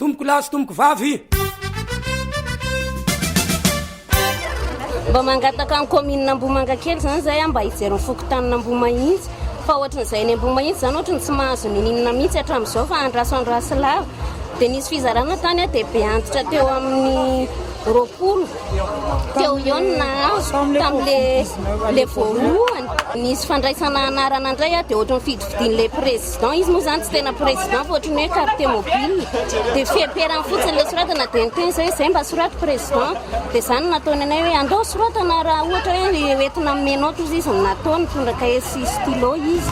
Tompoko lahy sy tompoko vavy. Mba mangataka ny commune Ambohimangakely izany zay mba hijery ny fokontanin' Ambohimahitsy fa ohatran'izay any Ambohimahitsy izany ohatry ny tsy mahazo nininona mihitsy hatramin'izao fa andraso andraso lava dia nisy fizarana tany dia be antitra teo amin'ny roapolo teo eo ny nahazo tamin'le le voalohany nisy fandraisana anarana indray dia ohatry ny fidifidian'ilay président Président izy moa izany tsy tena président fa ohatran'ny hoe carte mobile dia fiheperany fotsiny ilay soratana dia ny teny zay izay mba soraty président dia izany nataony anay hoe andao soratana raha ohatra hoe hoentina amin'ny menao toy izy no natao nitondra cahier sy stylo izy.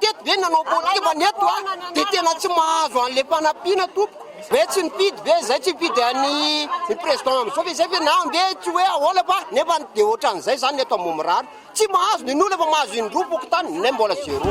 Teto ve nanao politika fa ny eto a dia tena tsy mahazo an'ilay fanampiana tompoko hoe tsy nifidy ve izay tsy nifidy an'i ny président amin'izao ve izay ve na ve tsy hoe ahoana fa nefa dia ohatran'izay izany ny eto Ambohimirary mirary tsy mahazo ny nona fa mahazo indroa fokontany nay mbola zéro